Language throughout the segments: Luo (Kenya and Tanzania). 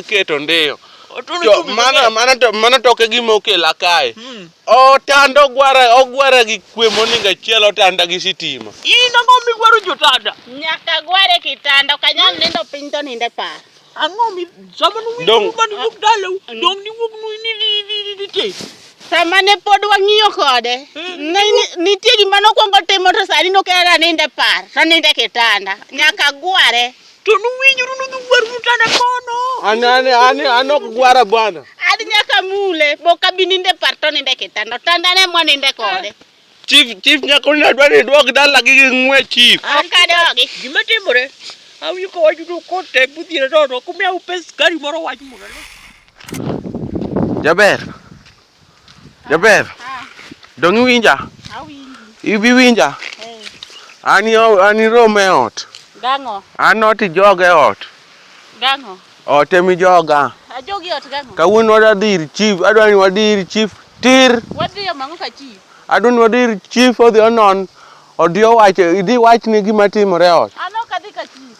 keto ndiyo to mano mano to mano to ok e gima okela kae hmm. otanda ogwara ogwara gi kwe moninga chiel otanda gi sitima in ang'o migwaro jotanda nyaka gware kitanda ok anyal nindo piny to ninde par ang'o mi sama nuwinjo mani wuok dalau ah, mm. dong niwuok nite sama ne pod wang'iyo kode hmm. nitie gima nokwongo timo to sani nokera ninde par to ninde kitanda nyaka gware To nuwinjuru nudhi gwaru nutana kono. An an an an ok gwara bwana. Ad nyaka mule bok abi ninde par to ninde kitanda. Tanda ne mwa ninde kode. Chief chief nyako ni adwa ni duok dala gi gi ng'we chief. Ok adogi. Gima timore. Awinjo ka wacho to kote budhire to to kumya upes gari moro wach moro. Jaber. Jaber. Ah. Dong iwinja? Awinji. Ibi winja? Eh. Ani ani rom e ot. Gang'o? An ot ijoga e ot. Gang'o? Ot ema ijoga. Ajogi ot gang'o? Kawuono wadwa dhi ir chief, adwa ni wadhi ir chief tir. Wadhi yo mang'o ka chief? Adwa ni wadhi ir chief odhi onon, odhi owache, idhi wachne gima timore e ot. An ok adhi ka chief.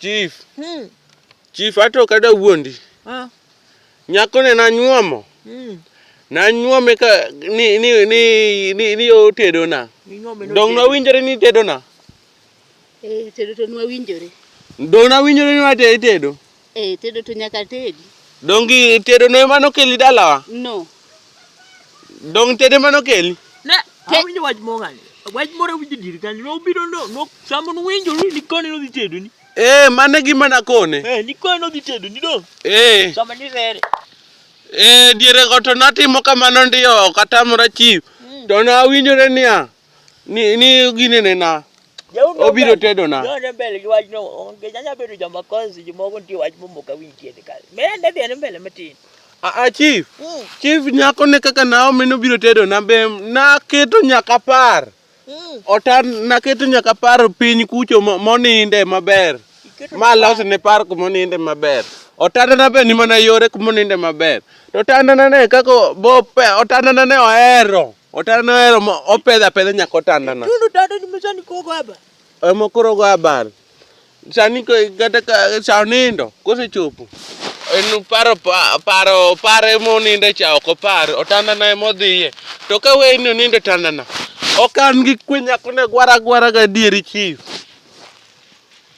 Chief. Hmm. Chief ato kada wuondi. Ah. Nyako ne na nyuomo. Hmm. Na nyuome ka ni ni ni ni ni o tedo na. Dong na winjore ni tedo na. Eh tedo to na winjore. Dong na winjore ni wa tedo. Eh, tedo to nyaka tedi. Dongi tedo no emano keli dalawa? No. Dong tedo emano keli? Ne, te... awinjo wach mong'ani. Wach moro awinjo dir kanyo. No biro no, no sambo no winjo ni nikoni no dhi tedo ni. Eh, mane gima nakone. Eh, nikoni no dhi tedo ni do. Eh. Sama ni rere. Eh, diere go to natimo kamano ndiyo, katamora chief. Mm. To nawinjore niya. Ni ni ginene na. Jaondo Obiro ber. tedo na. Jaondo mbele gi wachno onge nyanya bedo joma konsi jomoko nitie wach momoko awinj tiende kare. Mende dhi ane mbele matin. Ah, ah, chief. Mm. Chief nyako ne kaka Naomi nobiro tedo na be naketo nyaka par. Mm. Ota naketo nyaka par piny kucho mo- moninde maber. Iketo Ma los ne par kumoninde maber. Otanda na be ni mana yore kumoninde maber. To otanda na ne kako bo pe otanda na ne ohero. Otanda no ero opedha pedha nyaka otanda na. Tundu tanda ni msani kogo haba. Emo koro go habari. Sani kata ka sa nindo kose chopo. En paro paro paro emo nindo cha ok opar otanda na emo dhiye. To ka we ni nindo otanda na. Ok an gi kwe nyako ne gwara gwara ga dieri chief.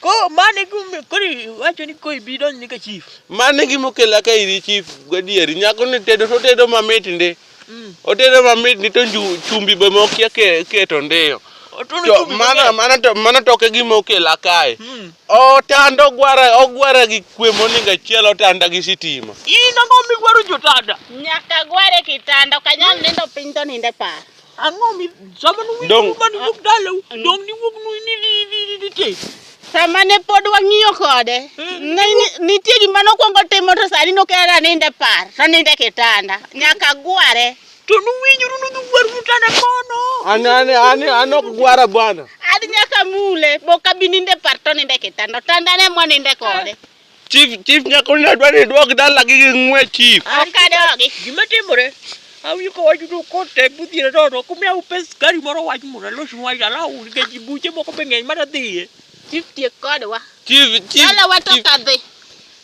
Ko mano e gimomiyo koro iwacho ni ko ibi donj ni ka chief. Mano e gima okela ka iri chief gadieri. Nyako ni tedo to otedo mamit ndi. Mm. Otedo mamit ndi to nju- chumbi be mokia ke- keto ndiyo. Otuno To chumbi mano maber. mano to mano to ok e gima okela kae. Mm. Otanda ogwara ogwara gi kwe moningo achiel otanda gi sitima. In ang'o miwaro jotanda? Nyaka gware kitanda, ok anyal nindo piny to nindo e par. ah non mi zaman wi Donc- man wug dalaw donc ni wug nu ni ni ni ni ni tey sama ne pod wang'iyo kode Ne- ni- nitie gima nokwongo timo to sani nokera nindo e par to nindo e kitanda nyaka gware to nu winjuru nu dhi wuor mutana kono An an an an ok gwara bwana. ad nyaka mule boka bi nindo e par to nindo e kitanda otandane mwaninde kode Chief, chief nyako ni adwa ni idwog dala gi ng'we chief. An kadogi. Gima timore. Awinjo ka wach udo kote budhiere to to kumia upe skari moro wach moro loch wach ala u ga jibuche moko be ng'eny mana dhiye. Chief tiek kodwa. Chief, chief. Dala wa to chief. kadhi.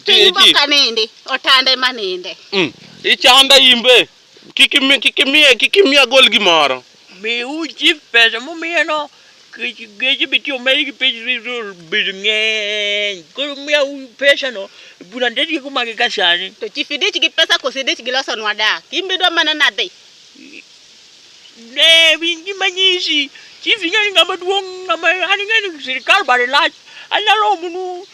Chief, Timo chief. kanindi. Otande maninde. Mm. Ichanda imbe. Kik imi- kik imiye kik imiye agol gimoro Miu chief pesa mumiyeno kech geche be tiyo medi gi pech rizol bed ng'eny. Koro miyau pesano bura nde tieko mage ka sani. To chief idich gi pesa koso idich gi losonwa dak? In be idwa mana nadhi? Ne winy gi manyisi, chief ing'e ni ng'ama duong' ng'ama an ing'e ni sirikal bade lach, anyalo omonu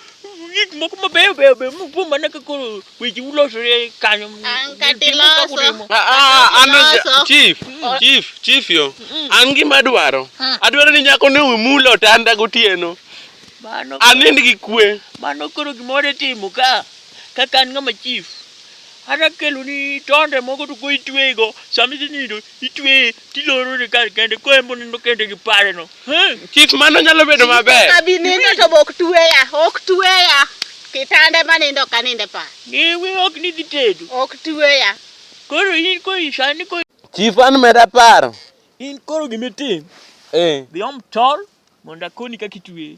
gik moko mabeyo beyo be mupo mana ka koro weche ulosore kanyo. An ka Timo tiloso. kaka utimo. Ah, ah, an Loso. chief chief chief yo an gima adwaro adwaro ni nyako ne umula otanda gotieno Mano anind gi kwe mano koro gimoro itimo ka kaka an ng'ama chief Kata keloni tonde moko to koro itweyego, sama idhi nindo itweye tilorone kar kende koro en bonindo kende gi pareno. Chief mano nyalo bedo maber. Abi nindo to bok tweya, ok tweya. Kitanda ma nindo ka nindo e par. Ngewe ok ni dhi tedo. Ok tweya. Koro in ko isani ko Chief an meda paro. In koro gimitim. Eh. Dhi om tol mondo akoni kaka itweye.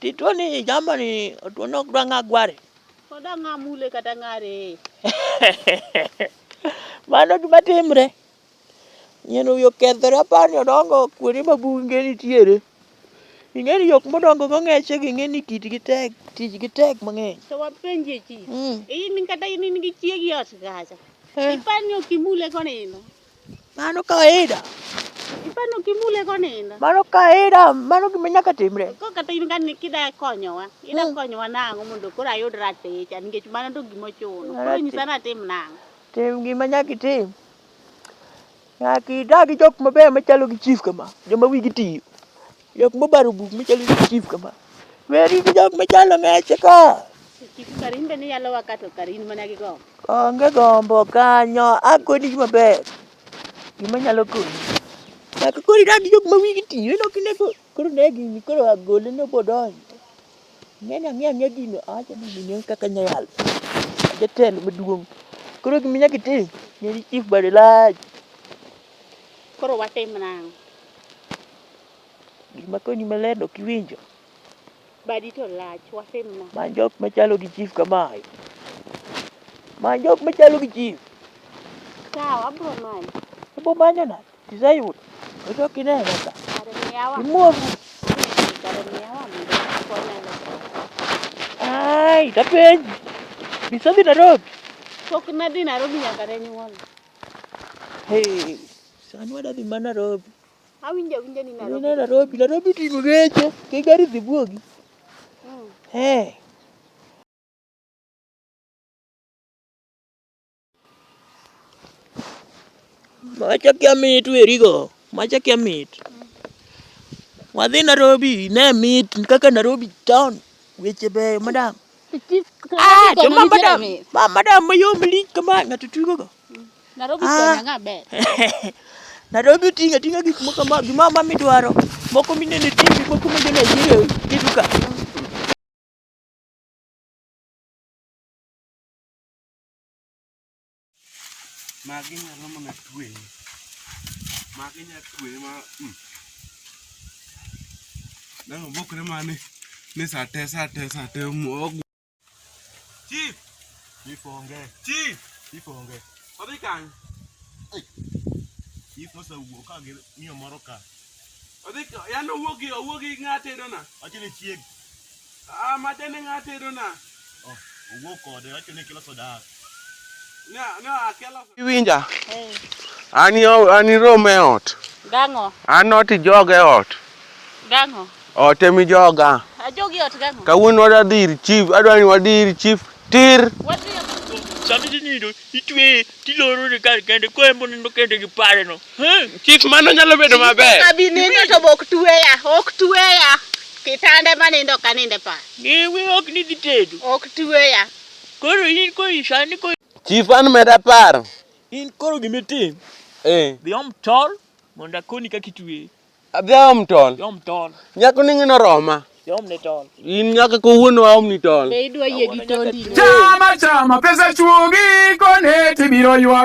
Titwo ni jamba ni otwo nok dwa ng'a gware. Koda ng'a mule kata ng'a reye. Mano gima timre. Nyien wiyo kethre apani odongo kuonde ma bunge nitiere. Ing'e ni jok modongo go ng'eche gi ing'e ni kitgi tek, tijgi tek mang'eny. To wapenjie chi. Mm. In kata in in gi chiegi ot kacha. Eh. Ipani ok imule konindo. Mano kawaida. Ipano kimule konindo. Mano kawaida, mano gima nyaka timre. Ko kata in ka kida konyowa, ida hmm. konyowa nang'o mondo koro ayud raticha nikech mano to gima ochuno. Koro nyisa ni atim nang'o. Tim gima nyaka itim. Nyaka idag gi jok mabeyo machalo gi chief kama, joma wigi tiyo. Jok mobaro buk machalo ni chief kama. Weri gi jok machalo meche ka. Chief Karin be ni yalo waka to Karin mana gi gombo. Onge gombo kanyo, akoni gima ber. Gima nyalo konyi. Nyaka koro idag gi jok ma wigi ti, ineno kine ko koro ne gini koro agole ne bodonjo. Ng'eni ang'e ang'e gino awacho ni gini en kaka nya yalo. Jatelo maduong'. Koro gima nyaka itim, ng'eni chief bade lach. Koro watim nang'o? Gima koni maler ok iwinjo. Badi to lach wasimna. Ma jok machalo gi chief kamae. Ma jok machalo gi chief. Sawa abro manyo. Ibo manyo na. Isayudo. Ojo kineno ka. Imuofu. Ai, tapenji. Bisabi Nairobi. Pok nadhi Nairobi nyaka ne nyuol. Hey, sani wadadhi ma Nairobi. Awinjo awinja ni Nairobi. Nina Nairobi, Nairobi tingo geche, ke gari dhi buogi. Mm. Eh. Macha kia mit werigo, macha kia mit. Wadhi Nairobi, ne mit kaka Nairobi town, weche beyo madam. Ah, to ma madam, ma madam mayom lich kama ng'ato tugogo. Nairobi ah. Kenya ng'a ber? Nairobi tinga tinga gik moko ma gima ma midwaro. Moko minene TV, moko minene jire kiduka. Magi nyalo mana twe. Magi nyalo twe ma hmm. Nang bokre mane ni sate sate sate mo Chief. Chief onge. Chief. Chief onge. Odhi kany. Chief mose wuo ka gi miyo moro ka. Odhi yano wuo gi owuo gi ng'ate do na. Wacho ni chieg. Ah, madene ng'ate do na. Oh, owuo kode wacho ni kilo soda. Iwinja? An an irom e ot. Gang'o? An ot ijoga e ot. Gang'o? Ot ema ijoga. Ajogi ot gang'o? Kawuono wadwa dhi ir chief, adwa ni wadhi ir chief tir. Wadhi sama isenindo itweye tilorone kar kende ko en bonindo kende gi pareno chief mano nyalo bedo maber abi nindo to bok tweya ok tweya kitande manindo kaninde pa ewe ok ni dhi tedo ok tweya Koro in koro isani koro Chief an meda paro. in koro gima itim, Eh. dhi om tol mondo akoni kaka itweye. Adhi aom tol. Dhi om tol, Nyako ni ng'ino roma. dhi om ne tol. In nyaka kawuono aom ni tol. Be idwa yie gi tondi? Chama chama pesa chuogi kone tibiro ywak